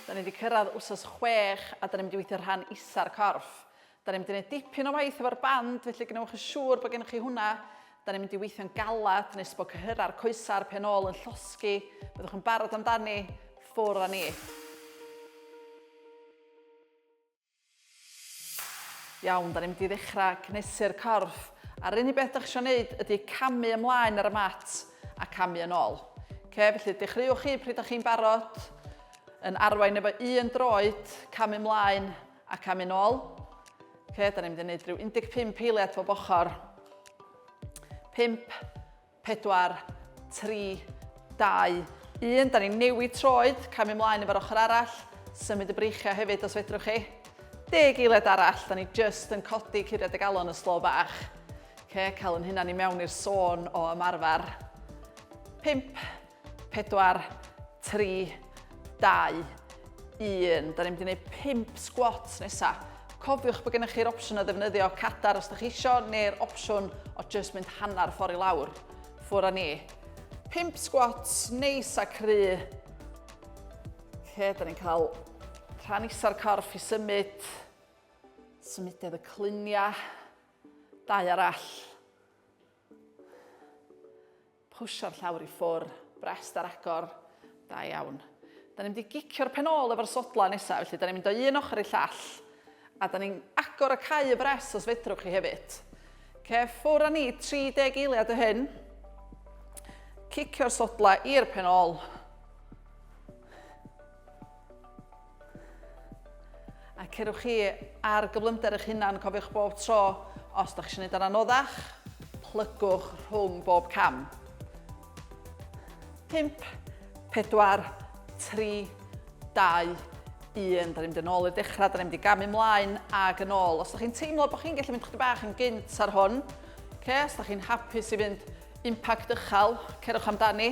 Da ni wedi cyrraedd wsos chwech a da ni'n mynd i weithio rhan isa'r corff. Da ni'n mynd i wneud dipyn o waith efo'r band, felly gwnewch yn siŵr bod gennych chi hwnna. Da ni'n mynd i weithio'n galad nes bod cyhyrau'r coesa'r pen ôl yn llosgi. Byddwch yn barod amdani, ffwr â ni. Iawn, da ni'n mynd i ddechrau cnesu'r corff. A'r unig beth dych chi eisiau wneud ydy camu ymlaen ar y mat a camu yn ôl. Okay, felly dechreuwch chi pryd ydych chi'n barod, yn arwain efo un droed, camu ymlaen a camu yn ôl. Okay, da ni'n mynd i wneud rhyw 15 eiliad o bochor. 5, 4, 3, 2, 1, da ni'n newid troed, camu mlaen efo'r ochr arall, symud y breichiau hefyd os fedrwch chi. Deg eiliad arall, da ni just yn codi curiad y galon y slo bach. Okay, cael yn hynna ni mewn i'r sôn o ymarfer. 5, 4, 3, 2, 1. Da ni'n mynd i wneud 5 squats nesa. Cofiwch bod gennych chi'r opsiwn o ddefnyddio cadar os da chi isio, neu'r opsiwn o just mynd hanner ffordd i lawr. Ffwr â ni. 5 squats neis a cry. Lle, da ni'n cael rhan isa'r corff i symud. Symudedd y cluniau. Dau arall. Pwsio'r llawr i ffwr, brest ar agor. Da iawn. Da ni'n mynd i gicio'r pen ôl efo'r sodlau nesaf, felly da ni'n mynd o un ochr i'r llall. A da ni'n agor y cau y brest os fedrwch chi hefyd. Ce, ffwr a ni, 30 eiliad o hyn. Cicio'r sodlau i'r pen ôl. A cerwch chi ar gyflymder eich hunan, cofiwch bob tro, os da chi eisiau gwneud o'n anoddach, plygwch rhwng bob cam. 5, 4, 3, 2, 1. Da ni'n mynd yn ôl i'r dechrau, da ni'n mynd i gamu mlaen ag yn ôl. Os da chi'n teimlo bod chi'n gallu mynd chdi bach yn gynt ar hwn, okay, os da chi'n hapus i fynd impact ychal, cerwch amdani.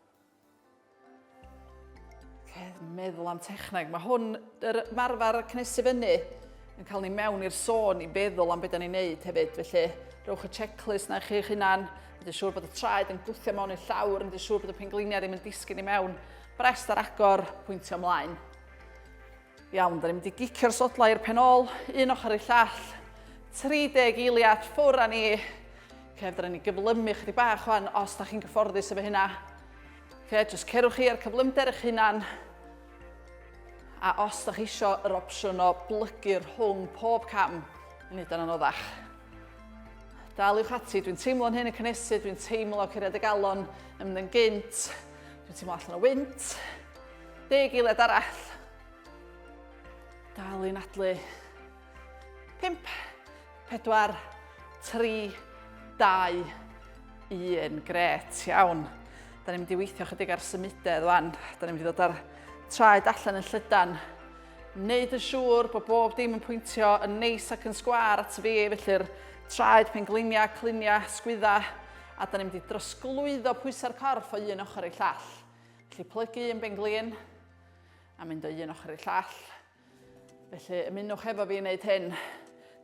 meddwl am techneg. Mae hwn, yr marfer cnesu fyny, yn cael ni mewn i'r sôn i feddwl am beth ni'n neud hefyd. Felly, rhowch y checklist na chi'ch hunan, wedi siŵr bod y traed yn gwthio mewn i'r llawr, wedi siŵr bod y pengliniau ddim yn disgyn i mewn. Brest ar agor, pwyntio ymlaen. Iawn, da ni'n mynd i gicio'r sodlau i'r pen ôl, un ochr i'r llall, 30 eiliad ffwr a ni. Oce, fydda ni gyflymu chdi bach o'n os da chi'n gyfforddus efo hynna. Oce, jyst cerwch chi ar cyflymder eich hunan. A os da chi isio yr opsiwn o blygu rhwng pob cam, yn neud yn anoddach. Daliwch ati, dwi'n teimlo'n hyn yn cynnesu, dwi'n teimlo cyrraedd y galon yn mynd yn gynt, dwi'n teimlo allan o wynt, Deg eiliad arall. Dal i nadlu. 5, 4, 3, 2, 1. Gret, iawn. Da ni'n mynd i weithio chydig ar symudedd wan. Da ni'n mynd i ddod ar traed allan yn llydan. Neud yn siŵr bod bob dim yn pwyntio yn neis ac yn sgwar at fi, felly'r traed, pengliniau, cliniau, sgwydda, a da ni'n mynd i drosglwyddo pwysau'r corff o un ochr i'r llall. Felly plygu un benglin a mynd o un ochr i'r llall. Felly ymunwch efo fi i wneud hyn.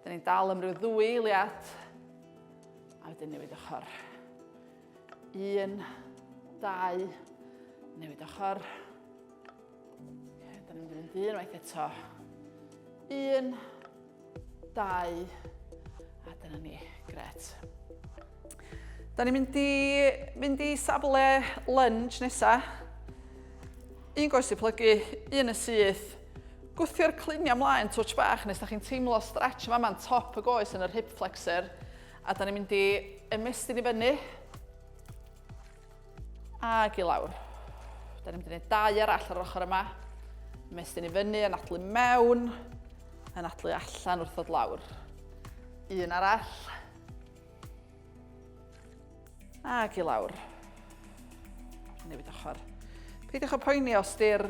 Dyn ni'n dal am ryw ddwy eiliad. A wedyn newid ochr. Un, dau, newid ochr. Okay, dyn ni'n mynd un waith eto. Un, Dau. A dyna ni. Gret. Da ni'n mynd i fynd i safle lunge nesa. Un goes i plygu, un y syth. Gwthio'r cluniau mlaen twtch bach nes da chi'n teimlo stretch yma ma'n top y goes yn yr hip flexor. A da ni'n mynd i ymestyn i fyny. Ac i lawr. Da ni'n mynd i wneud dau arall ar yr ochr yma. Mestyn i fyny, anadlu mewn, anadlu allan wrth ddod lawr. Un arall. Ac i lawr. Newid ochr. Peidiwch o poeni os di'r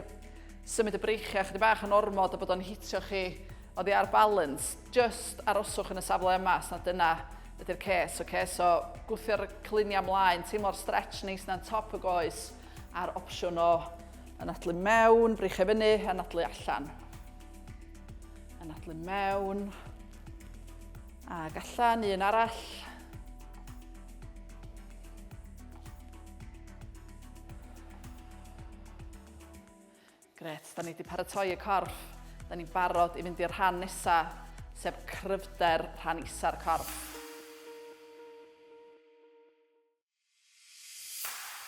symud y breichiau chydig bach yn ormod a bod o'n hitio chi oddi ar balans. Just aroswch yn y safle yma, os na dyna Ydy'r ces, ok, so gwthio'r cluniau mlaen, teimlo'r stretch neis na'n top y goes, a'r opsiwn o anadlu mewn, frych e fyny, anadlu allan. Anadlu mewn, ac allan, un arall. Grêt, da ni wedi paratoi y corff. Da ni'n barod i fynd i'r rhan nesa, sef cryfder rhan isa'r corff.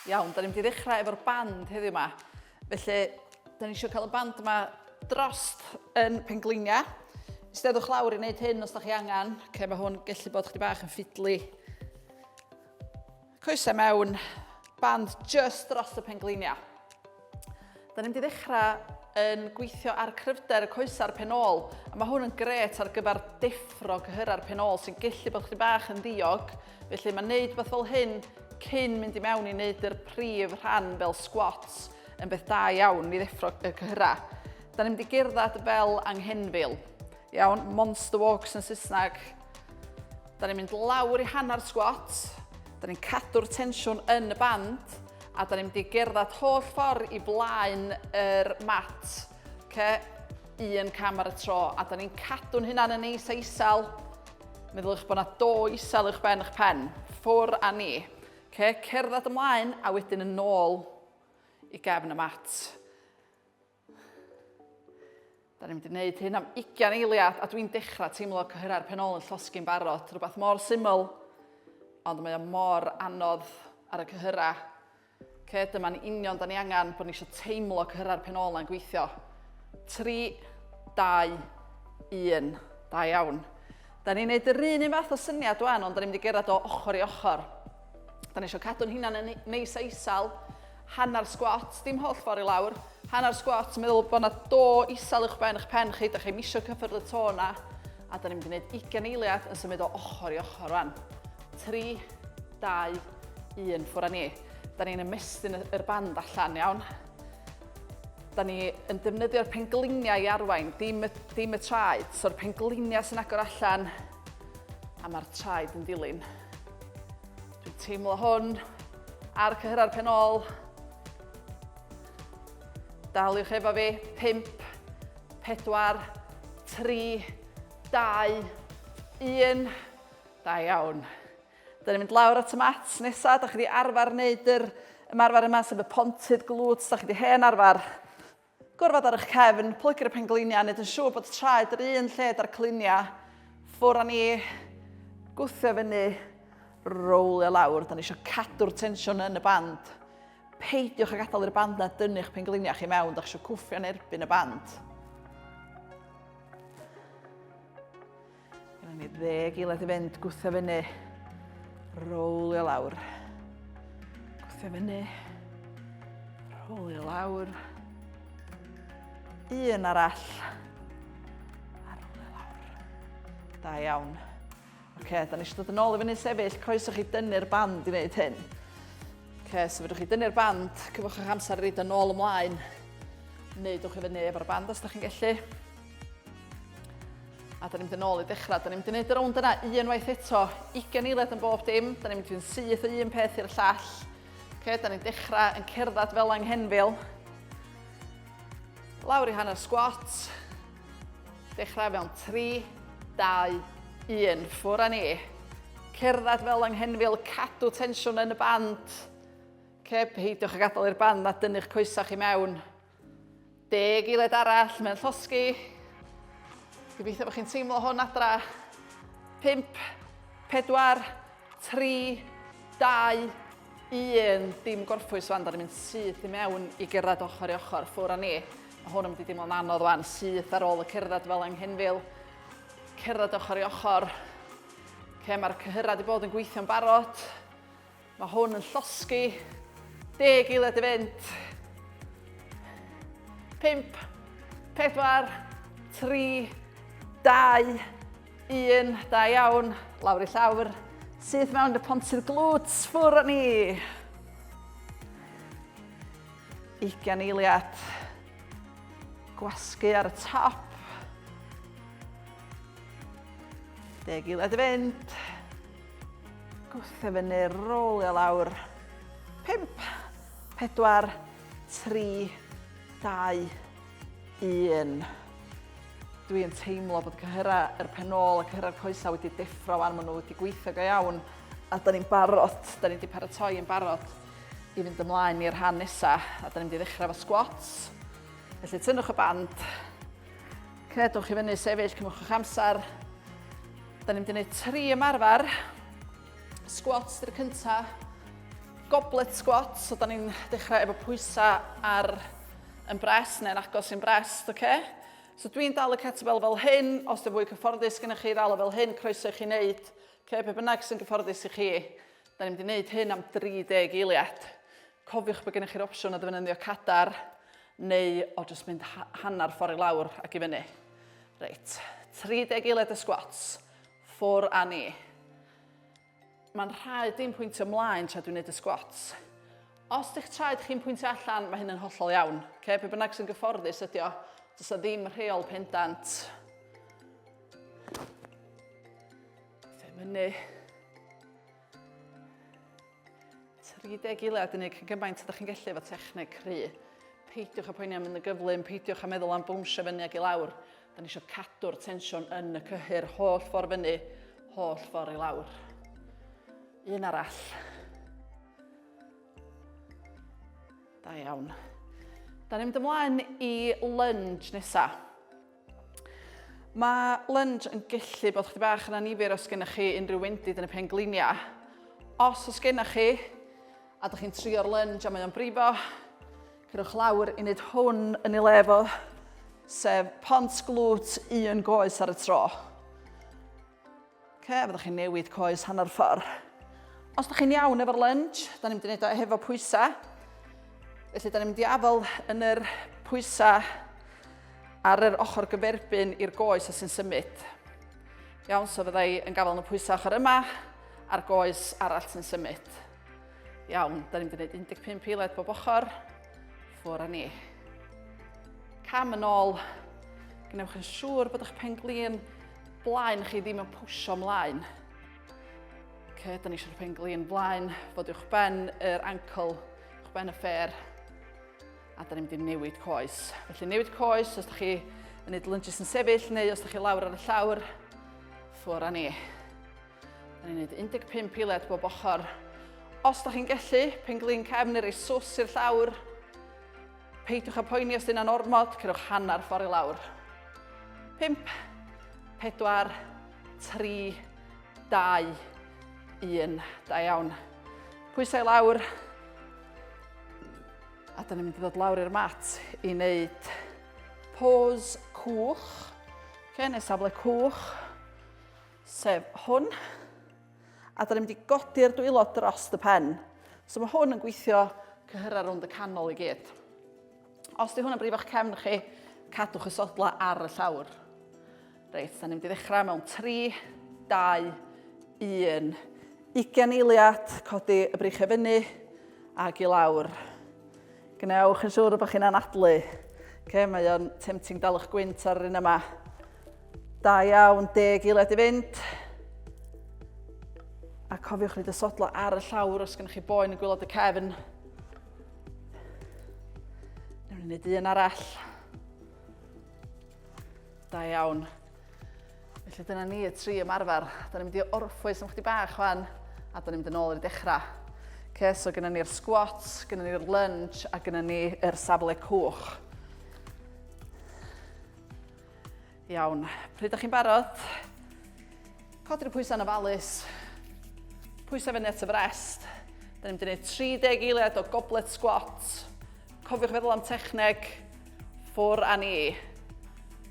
Iawn, da ni'n mynd i ddechrau efo'r band heddiw yma. Felly, da ni eisiau cael y band yma drost yn pengleinia. Steddwch lawr i wneud hyn os da chi angen. Ok, mae hwn gallu bod chdi bach yn ffidlu. Coesau mewn band just dros y pengliniau. Da ni'n mynd i ddechrau yn gweithio ar cryfder y coesau'r pen ôl, a mae hwn yn gret ar gyfer deffro cyhyrau'r pen ôl sy'n gellu bod chdi bach yn ddiog, felly mae wneud beth fel hyn cyn mynd i mewn i wneud yr prif rhan fel squats yn beth da iawn i ddeffro y cyhyrau. Da ni'n mynd i gerdded fel anghenfil. Iawn, monster walks yn Saesneg, Da ni'n mynd lawr i hanner sgwat, da ni'n cadw'r tensiwn yn y band, a da ni'n mynd i gerdded holl ffordd i flaen yr mat. Okay? Un cam ar y tro, a da ni'n cadw'n hynna'n yn neis a isel. Meddyliwch bod yna do isel uwch ben eich pen, ffwr a ni. Okay? Cerdded ymlaen a wedyn yn ôl i gefn y mat. Da ni'n mynd i wneud hyn am 20 eiliad a dwi'n dechrau teimlo cyhyrau'r penol yn llosgi'n barod. Rhywbeth mor syml, ond mae o mor anodd ar y cyhyrau. Ce, dyma'n union da ni angen bod ni eisiau teimlo cyhyrau'r penol na'n gweithio. 3, 2, 1, da iawn. Da ni'n neud yr un un fath o syniad wan, ond da ni'n mynd i gerdded o ochr i ochr. Da ni eisiau cadw'n hunan yn neis a isal, hanner sgwat, dim holl ffordd i lawr, hanner sgwat, meddwl bod yna do isal uwch ben eich pen chi, da chi misio cyffyrdd y to yna, a da ni'n mynd i wneud 20 eiliad yn symud o ochr i ochr rhan. 3, 2, 1, ffwr â ni. Da ni'n ymestyn yr band allan, iawn. Da ni yn defnyddio'r pengliniau i arwain, dim y, dim y traed. So'r pengliniau sy'n agor allan, A mae'r traed yn dilyn. Dwi'n teimlo hwn ar cyhyrra'r pen ôl. Daliwch efo fi, 5, 4, 3, 2, 1. Da iawn. Dyna ni'n mynd lawr at y mat nesaf. Da chi wedi arfer wneud yr ymarfer yma, sef y pontydd glwt. Da chi wedi hen arfer. Gorfod ar eich cefn, plygu'r pengliniau, wneud yn siŵr bod traed yr un lle da'r cliniau. Ffwr a ni, gwthio fyny, rowlio lawr. Da ni eisiau cadw'r tensiwn yn y band. Peidiwch a gadael i'r band na dynnu'ch pengliniau chi mewn, da chi eisiau cwffio yn erbyn y band. Gynna ni ddeg i led i fynd, gwtha fyny, rowlio lawr. Gwtha fyny, rowlio lawr. Un arall. A rowlio lawr. Da iawn. Oce, okay, da ni eisiau dod yn ôl i fyny sefyll, croeso chi dynnu'r band i wneud hyn. Oce, okay, so fydwch chi dynnu'r band, cyfwch eich amser i reid yn ôl ymlaen. Neudwch i fyny efo'r band os da chi'n gallu. A da ni'n mynd yn ôl i ddechrau. Da ni'n mynd i wneud y rownd yna unwaith eto. Ugen eiliad yn bob dim. Da ni'n mynd i'n syth o un peth i'r llall. Okay, da ni'n dechrau yn cerdded fel anghenfil. Lawr i hanner sgwat. Dechrau fewn 3, 2, 1. Ffwr a ni. Cerdded fel anghenfil, cadw tensiwn yn y band. Okay, peidiwch a gadael i'r band na dynnu'ch coesach i mewn. Deg eiliad arall mewn llosgi. Gobeithio bod chi'n teimlo hwn adra. 5, 4, 3, 2, 1. Dim gorffwys fan, da ni'n mynd syth i mewn i gerdded ochr i ochr, ffwr a ni. Mae hwn yn mynd i deimlo'n anodd fan, syth ar ôl y cerdded fel anghenfil. Cerdded ochr i ochr. Ce, mae'r cyhyrau wedi bod yn gweithio'n barod. Mae hwn yn llosgi. Deg eiliad i fynd. Pimp, pedwar, tri, dau, un. Da iawn. Lawr i llawr. Sydd mewn y pontydd glwt. Ffwr o ni. 20 eiliad. Gwasgu ar y top. Deg eiliad i fynd. Gwth e fyny, rolio lawr. 5, 4, 3, 2, 1. Dwi'n teimlo bod cyhyrau yr er pen ôl a cyhyrau'r coesau wedi deffro wan, maen nhw wedi gweithio go iawn a da ni'n barod, da ni wedi paratoi yn barod i fynd ymlaen i'r rhan nesaf a da ni'n mynd i ddechrau efo squats. Felly tynnwch y band, Cnedwch i fyny sefyll, cymwch o'ch amser. Da ni'n mynd i wneud tri ymarfer. Squats dy'r cynta. Goblet squats, so da ni'n dechrau efo pwysau ar yn bres neu'n agos i'n bres, oce? Okay? So dwi'n dal y kettlebell fel hyn, os dwi'n fwy cyfforddus gyda chi ddal o fel hyn, croeso i chi wneud, ce, pe bynnag sy'n gyfforddus i chi. Da ni'n mynd i wneud hyn am 30 eiliad. Cofiwch bod gennych chi'r opsiwn o ddefnyddio cadar neu o jyst mynd hanner ffordd i lawr ac i fyny. Reit, 30 eiliad y squats, ffwr a ni. Mae'n rhaid i'n pwyntio mlaen tra dwi'n gwneud y squats. Os ydych traed chi'n pwyntio allan, mae hyn yn hollol iawn. Okay? Be bynnag sy'n gyfforddus ydy o, does ddim rheol pendant. Fe mynu. 30 eiliad yn gwneud cyn gymaint ydych chi'n gallu efo techneg cry. Peidiwch â poeni am mynd yn gyflym, peidiwch â meddwl am bwnsio fyny ag i lawr. Da ni eisiau cadw'r tensiwn yn y cyhyr holl ffordd fyny, holl ffordd i lawr. Un arall. Da iawn. Da ni'n mynd ymlaen i lunge nesaf. Mae lunge yn gallu bod chdi bach yn anifyr os gennych chi unrhyw wendid yn y pen gliniau. Os os gennych chi, a dych chi'n trio'r lunge a mae o'n brifo, cyrwch lawr i wneud hwn yn ei le fo, sef pont glwt un goes ar y tro. Ok, fyddwch chi'n newid coes hanner ffordd. Os da chi'n iawn efo'r lunge, da ni'n mynd i wneud o hefo pwysau. Felly da ni'n mynd i afel yn yr pwysau ar yr ochr gyferbyn i'r goes a sy'n symud. Iawn, so fydda i yn gafael yn y pwysau ochr yma a'r goes arall sy'n symud. Iawn, da ni'n mynd i wneud 15 eiliad bob ochr. Ffwr â ni. Cam yn ôl. Gwnewch yn siŵr bod eich pen glin Blaen chi ddim yn pwysio mlaen. Okay, da ni eisiau'r pen glin blaen, fod uwch ben yr ancl, uwch ben y ffer. A da ni'n mynd i newid coes. Felly newid coes os da chi yn neud lunges yn sefyll neu os da chi lawr ar y llawr, ffwr a ni. Da ni'n neud 15 eiliad bob ochr. Os da chi'n gellu, pen glin cefn neu rei sws i'r llawr, Peidiwch â poeni os dyna'n ormod, cerwch hanner ffordd i lawr. 5, 4, 3, 2, 1. Da iawn. Pwysau i lawr. A dyna ni'n mynd i ddod lawr i'r mat i wneud pose cwch. Okay, neu safle cwch, sef hwn. A da ni'n mynd i godi'r dwylo dros y pen. So mae hwn yn gweithio cyhyrra rownd y canol i gyd. Os di hwnna'n brif o'ch cefn chi, cadwch y sodla ar y llawr. Reit, da ni'n mynd i ddechrau mewn 3, 2, 1. 20 eiliad, codi y brych e fyny ac i lawr. Gwnewch yn siŵr bod chi'n anadlu. Okay, mae o'n tempting dal eich gwynt ar yr un yma. Da iawn, deg i led i fynd. A cofiwch ni dysodlo ar y llawr os gennych chi boen yn gwylod y cefn. Newn ni wneud un arall. Da iawn. Felly dyna ni y tri ymarfer. Da ni'n mynd i orffwys am chdi bach fan, a da ni'n mynd yn ôl i'r dechrau. Okay, so gyda ni'r squat, gyda ni'r lunge a gyda ni'r safle cwch. Iawn, pryd ydych chi'n barod? Codi'r pwysau yn ofalus. Pwysau fyny at y frest. Da ni'n mynd i wneud 30 eiliad o goblet squat. Cofiwch feddwl am techneg. Ffwr a ni.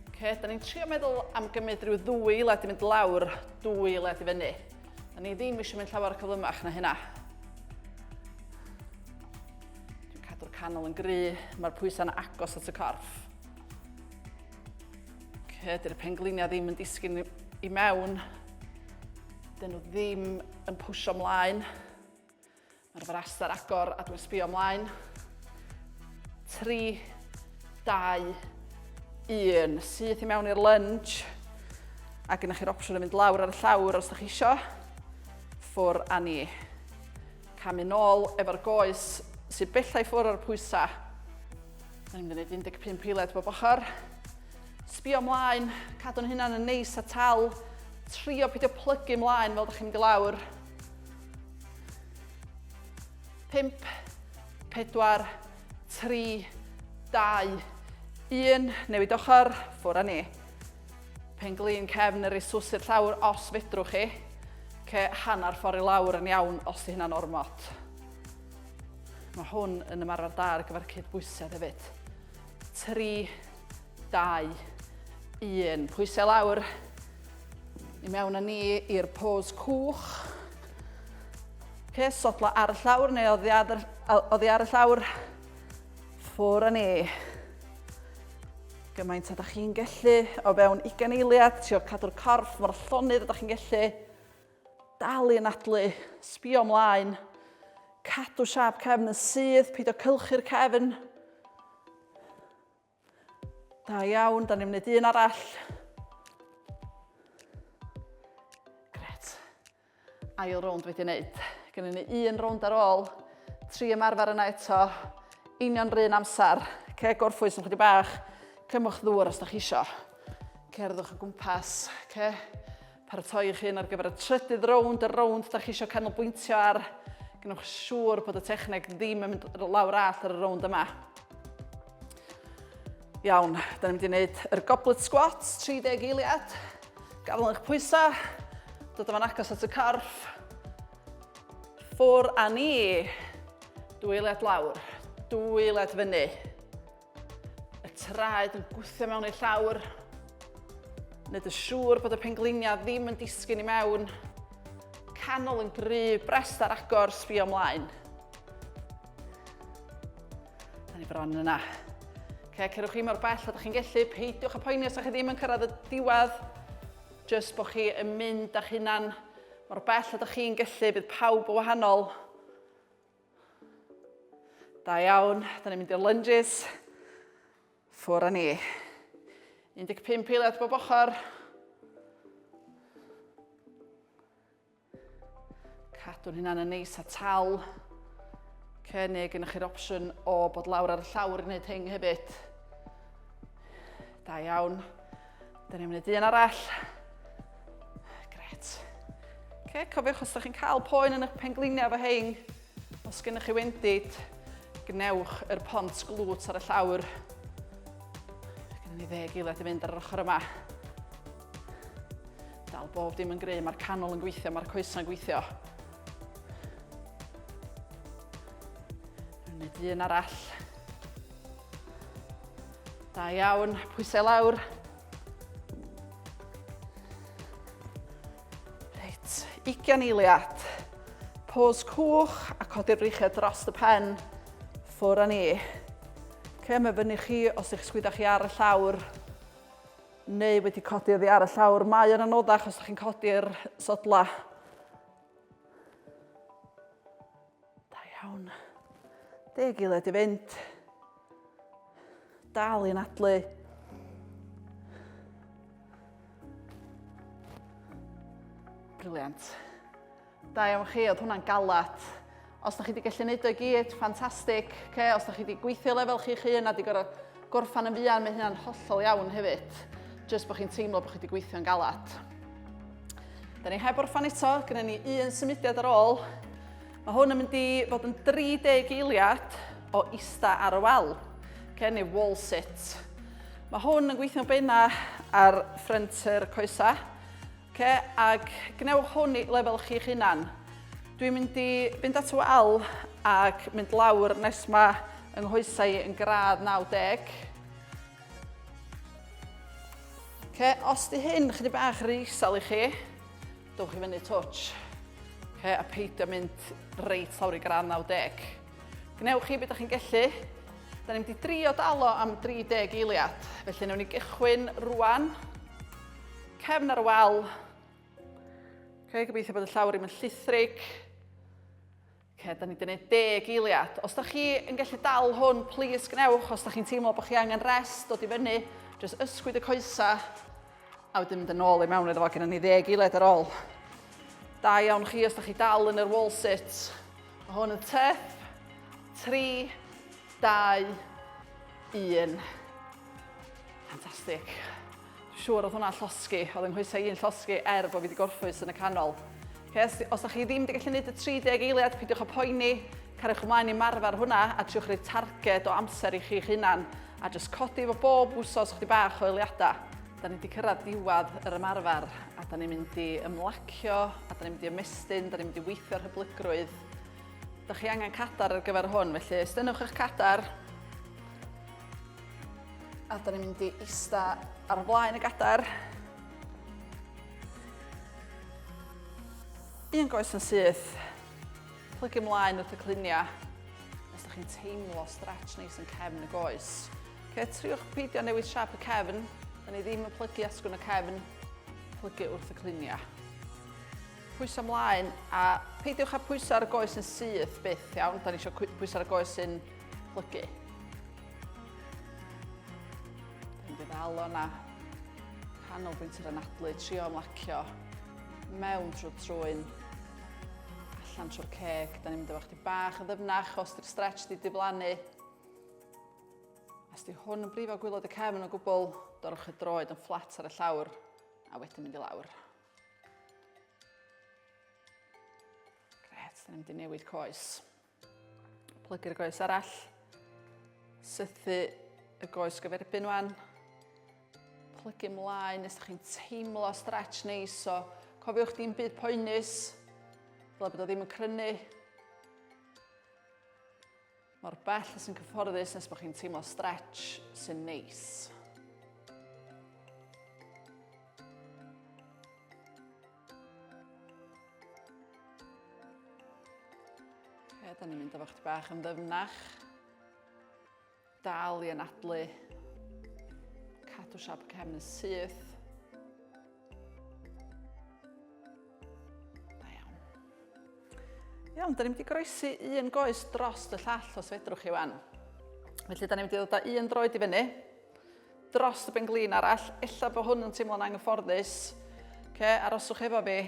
Oce, da ni'n trio meddwl am gymryd rhyw ddwy led i mynd lawr, dwy led i fyny. Da ni ddim eisiau mynd llawer o cyflymach na hynna. Dwi'n cadw'r canol yn gry, mae'r pwysau'n agos at y corff. Oce, dy'r pengliniau ddim yn disgyn i mewn. Dyn nhw ddim yn pwysio mlaen. Mae'r fras ar agor a dwi'n sbio ymlaen. 3, 2, 1. Syth i mewn i'r lunge. A gyda chi'r opsiwn o fynd lawr ar y llawr os ydych chi isio. Ffwr a ni. Cam yn ôl efo'r goes sy'n bellai ffwr o'r pwysau. Da ni'n mynd i 15 pilet bob ochr. Sbio ymlaen, cadw'n hynna'n yn neis a tal. Trio pidio plygu ymlaen fel ydych chi'n mynd i lawr. 5, 4, 3, 2, 1. Newid ochr, ffwr a ni. Pen glin cefn yr i'r llawr os fedrwch chi. Ce hanner ffordd i lawr yn iawn os di hynna'n ormod. Mae hwn yn ymarfer da ar gyfer cyd bwysedd hefyd. 3, 2, 1. Pwysau lawr. I mewn â ni i'r pose cwch. Okay, sodla ar y llawr neu oddi ar, oddi ar y llawr. Ffwr â ni. Gymaint ydych chi'n gallu o fewn 20 eiliad, trio cadw'r corff mor llonydd ydych chi'n gallu. Dal i'n adlu, sbio ymlaen. Cadw siap cefn yn sydd, peidio cylchu'r cefn. Da iawn, da ni'n mynd un arall. Gret. Ail rownd wedi wneud. Gynnu ni un rownd ar ôl. Tri ymarfer yna eto. Union rhan amser. Ce gorffwys yn chwyddi bach. Cymwch ddŵr os da chi isio. Cerddwch o gwmpas. Ce. Paratoi'ch hun ar gyfer y trydydd rownd, y rownd da chi eisiau canolbwyntio ar. Gwnewch siŵr bod y techneg ddim yn mynd lawr all ar y rownd yma. Iawn, da ni'n mynd i wneud yr goblet squats, 30 eiliad. Gafel yn eich pwysau, dod yma'n agos at y corff. Ffwr a ni. Dwy eiliad lawr, dwy eiliad fyny. Y traed yn gwthio mewn ei llawr. Nid y siŵr bod y pengleinia ddim yn disgyn i mewn. Canol yn gry, brest ar agor, sbio ymlaen. Da ni bron yna. Okay, cerwch chi mor bell a da chi'n gellu, peidiwch a poeni os da chi ddim yn cyrraedd y diwedd, jyst bod chi yn mynd â'ch hunan mor bell a da chi'n gellu, bydd pawb o wahanol. Da iawn, da ni'n mynd i'r lunges. Ffwr â ni. 15 eiliad bob ochr. Cadw'n hynna'n y neis a tal. Cynnig yn eich opsiwn o bod lawr ar y llawr i wneud hyn hefyd. Da iawn. Dyn ni'n mynd i un arall. Gret. Okay, cofiwch os ydych chi'n cael poen yn eich pengliniau efo hein, os gennych chi wendid, gwnewch yr pont glwt ar y llawr. Gynnu ni ddeg eiliad i fynd ar yr ochr yma. Dal bob dim yn gry, mae'r canol yn gweithio, mae'r coesau'n gweithio. Yn y dyn arall. Da iawn, pwysau lawr. Reit, ugian eiliad. Pôs cwch a codi'r breichiau dros y pen. Ffwr â ni. Ce, mae fyny chi os ych sgwydda chi ar y llawr neu wedi codi oddi ar y llawr. Mae yn anoddach os ych chi'n codi'r sodla. Da iawn. Deg i led i fynd. Dal i'n adlu. Briliant. Da iawn chi, oedd hwnna'n galat. Os da chi wedi gallu neud o'i gyd, ffantastig. Okay, os da chi wedi gweithio lefel chi'ch hun a wedi gorfod Gorffen yn fuan, mae hynna'n hollol iawn hefyd, jyst bod chi'n teimlo bod chi wedi gweithio'n galad. Da ni heb orffan eto, gyda ni un symudiad ar ôl. Mae hwn yn mynd i fod yn 30 eiliad o ista ar y wal, okay, neu wall sit. Mae hwn yn gweithio'n beina ar ffrent yr coesa, Oce, ac gwnewch hwn i lefel chi'ch hunan. Dwi'n mynd i fynd at y wal ac mynd lawr nes mae yng nghoesau i yn gradd 90. Oce, os di hyn chydig bach rhy isel i chi, dowch i fyny twtsh. Oce, a peidio mynd reit lawr i gradd 90. Gwnewch chi beth ydych chi'n gellu. Da ni'n mynd i drio dalo am 30 eiliad, felly newn ni gychwyn rwan. Cefn ar y wal. Okay, gobeithio bod y llawr ddim yn llithrig. Okay, da ni wedi gwneud deg eiliad. Os da chi yn gallu dal hwn, plis gwnewch. Os da chi'n teimlo bod chi angen rest, dod i fyny, jyst ysgwyd y coesau. A wedyn mynd yn ôl i mewn iddo fo, gyda ni ddeg eiliad ar ôl. Da iawn chi os da chi dal yn yr wall sit. Mae hwn yn tep. 3, 2, 1. Fantastic. Siŵr oedd hwnna'n llosgi, oedd yng nghoesau i'n llosgi er bod fi wedi gorffwys yn y canol. Okay, os, os da chi ddim wedi gallu gwneud y 30 eiliad, peidiwch â poeni, carwch ymlaen i marfer hwnna a triwch rhoi targed o amser i chi'ch hunan a just codi fo bob wsos chdi bach o eiliadau. Da ni wedi cyrraedd diwedd yr ymarfer a da ni'n mynd i ymlacio a da ni'n mynd i ymestyn, da ni'n mynd i weithio'r hyblygrwydd. Da chi angen cadar ar gyfer hwn, felly stynnwch eich cadar, A da ni'n mynd i ista ar y blaen y gadair. Un goes yn syth. Plygu ymlaen wrth y cluniau. Os da chi'n teimlo stretch neis yn cefn y goes. Okay, triwch peidio newid siap y cefn. Da ni ddim yn plygu asgwn y cefn. Plygu wrth y cluniau pwys ymlaen a peidiwch â pwys ar y goes yn syth byth iawn. Da ni eisiau pwys ar y goes sy'n Plygu. Dwi'n bydd alo na canolbwynt yr anadlu, trio ymlacio mewn trwy trwy'n allan trwy'r ceg. Da ni'n mynd efo chdi bach yn ddyfnach os di'r stretch di diflannu. Os di hwn yn brifo gwylod y cefn o gwbl, dorwch y droed yn fflat ar y llawr a wedyn mynd i lawr. Gret, da ni'n mynd i newid coes. Plygu'r goes arall. Sythu y goes gyferbyn wan. Plygu mlaen nes da chi'n teimlo stretch neis. So, cofiwch di'n byd poenus. Fel bod o ddim yn crynu. Mor bell sy'n cyfforddus nes bod chi'n teimlo stretch sy'n neis. Ie, da ni'n mynd efo chdi bach yn ddyfnach. Dal i anadlu. Cadw siap y cefn yn syth. Da iawn. Iawn, da ni'n mynd i groesi un goes dros y llall os fedrwch chi wan. Felly, da ni'n mynd i ddod o un droed i fyny. dros y ben-glin arall. Ella bod hwn yn teimlo'n anghyfforddus. Okay, aroswch efo fi.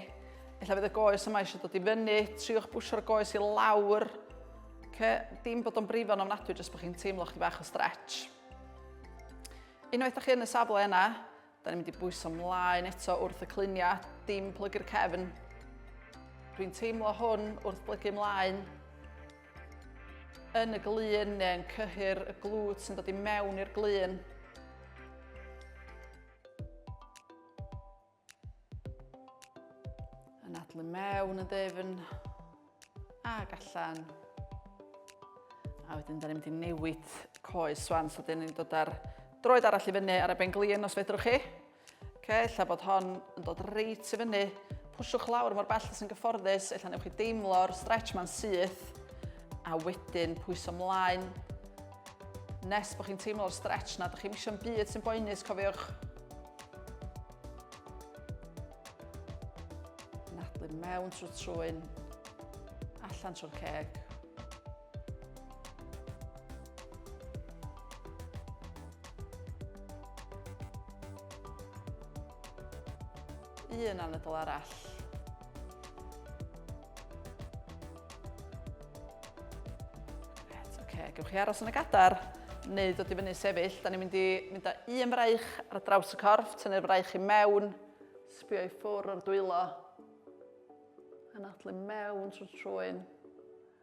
Ella fydd y goes yma eisiau dod i fyny. Triwch bwsio'r goes i lawr. Okay, dim bod o'n brifo yn ofnadwy, jyst bod chi'n teimlo chi fach o stretch. Unwaith da chi yn y safle yna, da ni'n mynd i bwyso mlaen eto wrth y cluniau, dim plygu'r cefn. Dwi'n teimlo hwn wrth blygu mlaen. yn y glun neu yn cyhyr y glwt sy'n dod i mewn i'r glun. Yn adlu mewn y dyfn ag allan. A wedyn da ni'n mynd i newid coes swan, so dyn ni'n dod ar droed arall i fyny ar y ben glun os fedrwch chi. Ok, ella bod hon yn dod reit i fyny. Pwsiwch lawr mor bell sy'n gyfforddus, ella newch chi deimlo'r stretch ma'n syth, a wedyn pwyso mlaen. Nes bod chi'n teimlo'r stretch na, dych chi'n misio'n byd sy'n boenus, cofiwch. Nadlu mewn trwy trwy'n allan trwy'r ceg. un anadl arall. Right, okay. Gewch chi aros yn y gadar neu dod i fyny sefyll. Da ni'n mynd i mynd â un braich ar y draws y corff, tynnu'r braich i mewn, sbio i ffwr o'r dwylo. Anadlu mewn trwy'r trwy'n.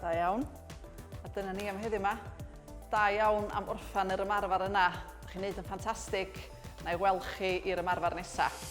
Da iawn. A dyna ni am heddiw yma. Da iawn am orffan yr ymarfer yna. Dych chi'n neud yn ffantastig. Na i weld chi i'r ymarfer nesaf.